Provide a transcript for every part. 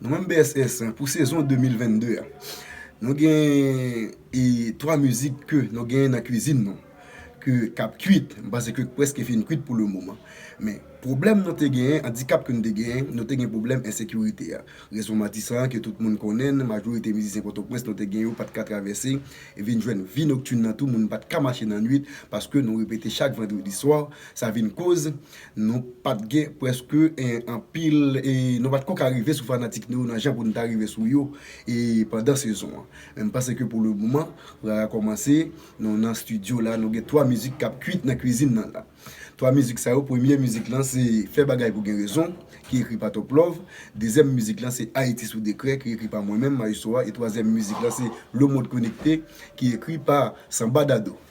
Nou menm BSS pou sezon 2022 a Nou gen 3 mizik ke nou gen nan kwizin nou Ke kap kwit, m panse ke preske fin kwit pou le moman Men pwoblèm nou te gen, andikap ke nou te gen Nou te gen pwoblèm ensekirite a Rezon Matisan an ke tout moun konnen Majorite mizisyen Pòtoprens nou te gen yo pat ka travèse Vin jwenn vi noktin nan tou moun pat ka mache nan nwit Paske nou repete chak vandredi swa Sa vin koz Nou pat gen preske anpil e nou pat ko ka rive sou fanatik nou yo nan jan pou nou ta rive sou yo e pandan sezon an. Men m'panse ke pou le moman, Rara kòmanse, nou nan studio la, nou gen 3 mizik k'ap kwit nan kwizin nan la. 3 mizik sa yo, premye mizik lan se Fè bagay pou gen rezon ki ekri pa Top Love, dezyèm mizik lan se Ayiti sou dekrè ki ekri pa mwen menm, Maestro a, e twazyèm mizik lan se Le monde connecté ki ekri pa Sanba Dadou.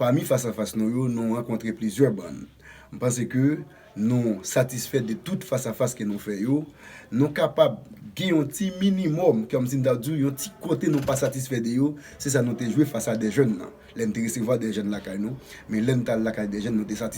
Pami fas a fas nou yo, nou rankontre plizyè bann. M panse ke nou satisfè de tout fas a fas ke nou fè yo. Nou kapab gen yon ti minimòm, kòm si m ta di w, yon ti kote nou pa satisfè de yo, se sa nou te jwe fas a Dèjèn nan. Lè n te resevwa Dèjèn lakay nou, men lè n t al lakay Dèjèn nou te satisfè.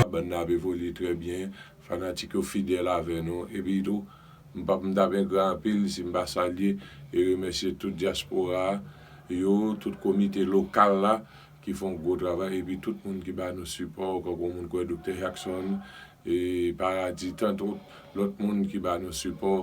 Labann nan ap evolye trè byen, fanatik yo fidèl avè nou, epi tou m pap m tap engra anpil si m pa salye e remèsye tout dyaspora yo, tout komite lokal la ki fè yon gwo travay epi tout moun ki ba nou sipò kankou moun kwè Doktè Jackson e Paradis tantout lòt moun ki ba nou sipò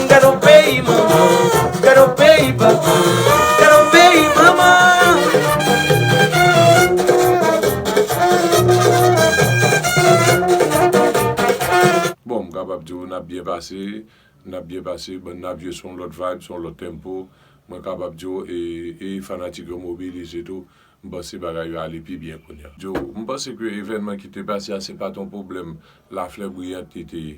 Bon m kapab di w n ap byen pase, n ap byen pase bann Navio se yon lòt vibe, se yon lòt tempo. Mwen kapab di w e e fanatik yo mobilize tou. M panse bagay yo ale pi byen kounya. Di w, m panse ke evènman ki te pase a se pa t yon pwoblèm Laflè Briyant li te ye.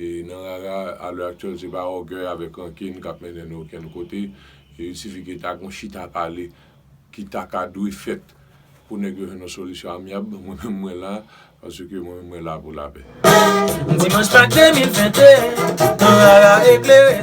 E nan rara, a lè aktyèl se pa ògèy avèk rankin k ap mennen nou okenn kote. Il sifi ke ta gen yon chita pale ki ta ka dwe fèt pou nèg yo jwenn yon solisyon amyab. Mwen menm mwen la, paske mwen menm mwen la pou lapè. Dimanch 4 demil 21 nan rara eklere.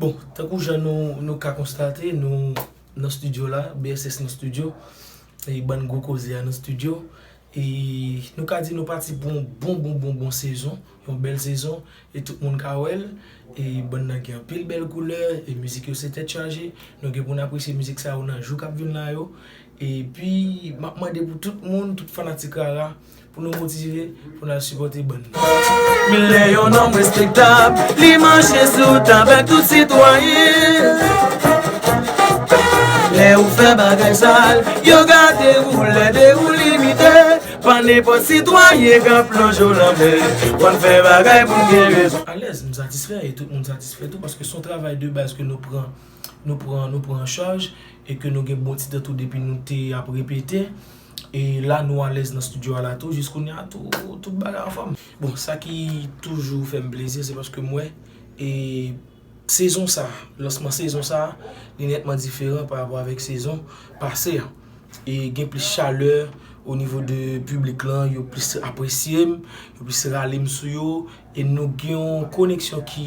Bon, tankou jan nou ka konstate, nou nan studio la, BSS nan studio, e bann gwo koze a nan studio, e nou ka di nou pati pou yon bon bon bon bon sezon, yon bèl sezon, e tout moun ka wè l, e bann nan gen anpil bèl koulè, e mizik yo se tèt chaje, nou gen pou n apresye mizik sa yo nan jou k ap vin la yo, epi m ap mande pou tout moun, tout fanatik Rara. Pou nou motive, pou nou al sipote bann nan. Lè yon nonm respektab, li manje sou tab ak tout sitwayen. Lè ou fè bagay sal, yo gade ou lèd e ou limite. Pa nenpòt sitwayen k ap plonje w lanmè. Konn fè bagay pou w gen rezon. Alèz, m satisfè e tout moun satisfè tou paske s on travay de baz ke nou pran, nou pran, nou pran an chaj e ke nou gen bon ti tan tou depi nou te ap repete. E la nou alèz nan studio a la tou jiskounya tou tout bagay anfòm. Bon sa ki toujou fèm plezi se paske m wè e sezon sa, lansman sezon sa li nètman diferan pa rapò avèk sezon pase a. E gen plis chalè o nivo de piblik lan, yo plis apresye m, yo plis rale m sou yo e nou gen yon koneksyon ki.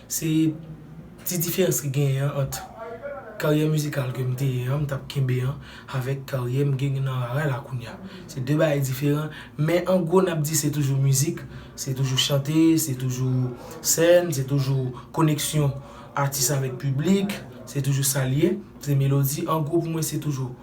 Se ti diferans ki genyen an ant karyè mizikal ke m te ye an, m t ap kenbe an, avèk karyè m gen nan rara la kounye a. Se 2 bagay diferan, men an gwo n ap di se toujou mizik, se toujou chante, se toujou sèn, se toujou koneksyon atis avèk piblik, se toujou sa l ye, se melodi, an gwo pou mwen se toujou.